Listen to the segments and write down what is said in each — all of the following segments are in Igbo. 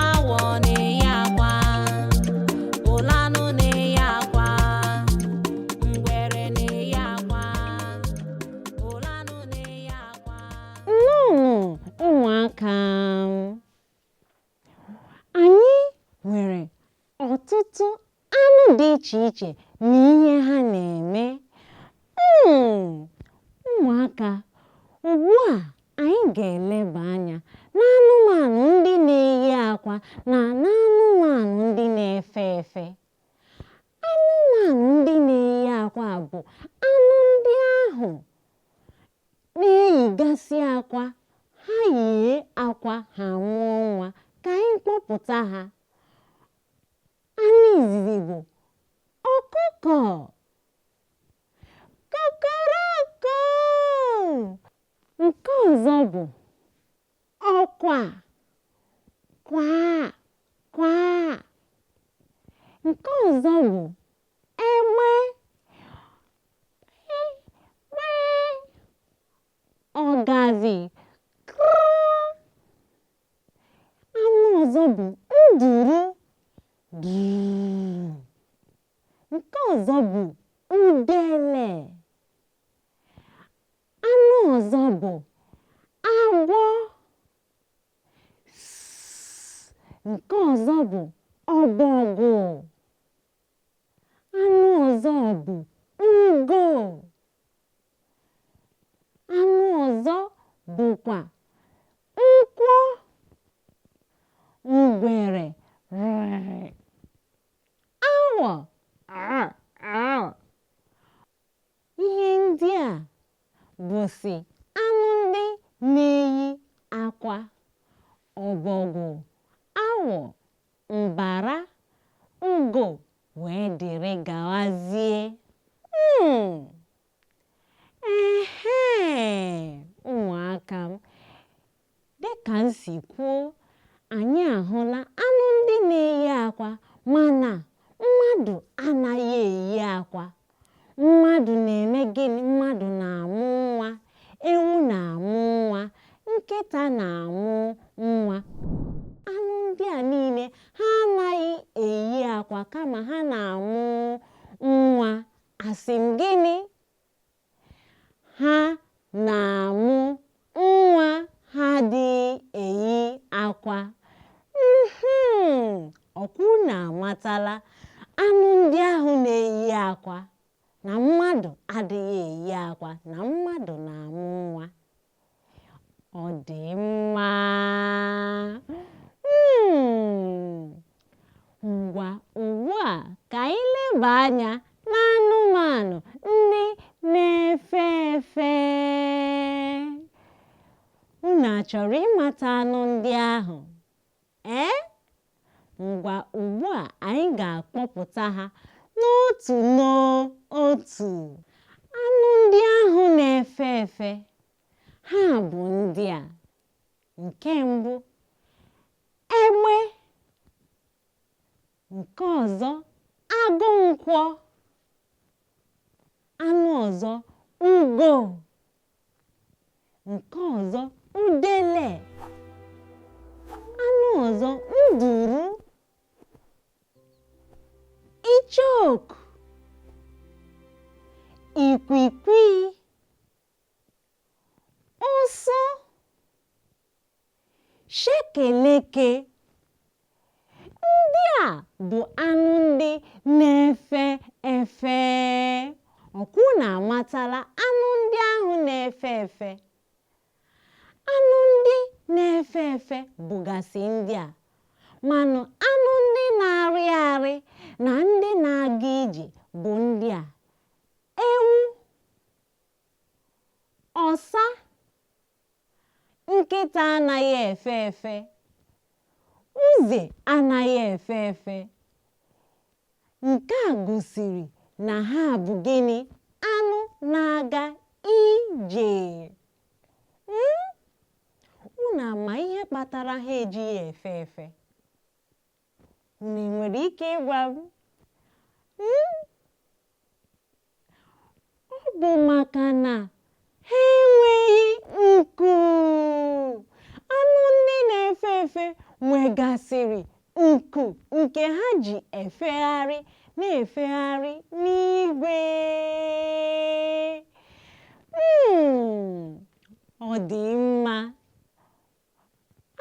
Awọ na-eyi akwa, olee anụ na-eyi akwa, ngwere na-eyi akwa, olee anụ na-eyi akwa. Nnọọ ụmụaka anyị nwere ọtụtụ anụ dị iche iche na ihe ha na-eme hmm, ụmụaka ugbu a anyị ga-eleba anya n'anụmanụ ndị na-eyi akwa na n'anụmanụ ndị na-efe efe anụmanụ ndị na-eyi akwa bụ anụ ndị ahụ na-eyigasị akwa ha yie akwa ha mụọ nwa ka anyị kpọpụta ha Anụ izizi bụ ọkụkọ. Kokoroko. Nke ọzọ bụ ọkwa. Kwa. Kwa. Nke ọzọ bụ egbe. Egbe. ọgazi anụ ọzọ bụ nduru nke ọzọ bụ udele anụ ọzọ bụ agwọ nke ọzọ bụ ọbọgwụ anụ ọzọ bụ ugo anụ ọzọ bụkwa nkwọ ngwere awọ ihe ndị a bụsị anụ ndị na-eyi akwa ọbọgwụ awọ mbara, ngo wee dịrị gawazie. Mm. Ehe, ụmụaka m, dị ka m si kwuo, anyị ahụla anụ ndị na-eyi akwa mana mmadụ anaghị eyi akwa. Mmadụ na-eme gịnị? Mmadụ na-amụ nwa, ewu na-amụ nwa, nkịta na-amụ nwa. Anụ ndị a niile ha anaghị eyi akwa kama ha na-amụ nwa. Asị m gịnị? Ha na-amụ Nwa ha adịghị eyi akwa. Mm-hmm. Ọ kwa unu amatala anụ ndị ahụ na-eyi akwa na mmadụ adịghị eyi akwa na mmadụ na-amụ nwa. Ọ dị mma. Mm. Ngwa ugbu a ka anyị leba anya n'anụmanụ ndị na-efe efe. Unu achọrọ ịmata anụ ndị ahụ? Ee? Ngwa ugbu a anyị ga-akpọpụta ha n'otu n'otu. Anụ ndị ahụ na-efe efe ha bụ ndị a. nke mbụ egbe nke ọzọ agụ nkwọ anụ ọzọ ugo nke ọzọ udele anụ ọzọ nduru icheoku ikwikwi Ụsụ shekeleke ndị a bụ anụ ndị na-efe efe ọ kwa unu amatala anụ ndị ahụ na-efe efe anụ ndị na-efe efe bụgasị ndị a manụ anụ ndị na-arị arị na ndị na-aga ije bụ ndị a ewu Ọsa nkịta anaghị efe efe uze anaghị efe efe nke a gosiri na ha bụ gịnị anụ na-aga ije hmm? unu ama ihe kpatara ha ejighị efe efe Unu nwere ike ịgwa m? Hmm? Ọ bụ maka na ha enweghị nku. Anụ ndị na-efe efe nwegasịrị nku nke ha ji efegharị na-efegharị n'igwe. Hmm, ọ dị mma.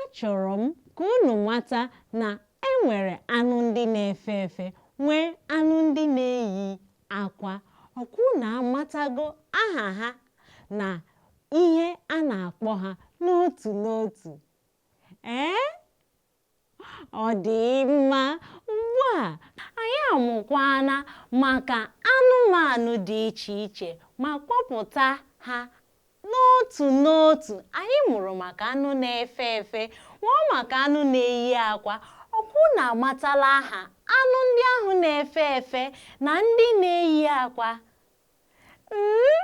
Achọrọ m ka unu mata na e nwere anụ ndị na-efe efe, nwee anụ ndị na-eyi akwa. Ọ kwa unu amatago aha ha na ihe a na-akpọ ha n'otu n'otu? Ee? ọ dị mma ugbu a anyị amụkwana maka anụmanụ dị iche iche ma kpọpụta ha n'otu n'otu anyị mụrụ maka anụ na-efe efe mụọ maka anụ na-eyi akwa ọkwa unu amatala aha anụ ndị ahụ na-efe efe na ndị na-eyi akwa mm?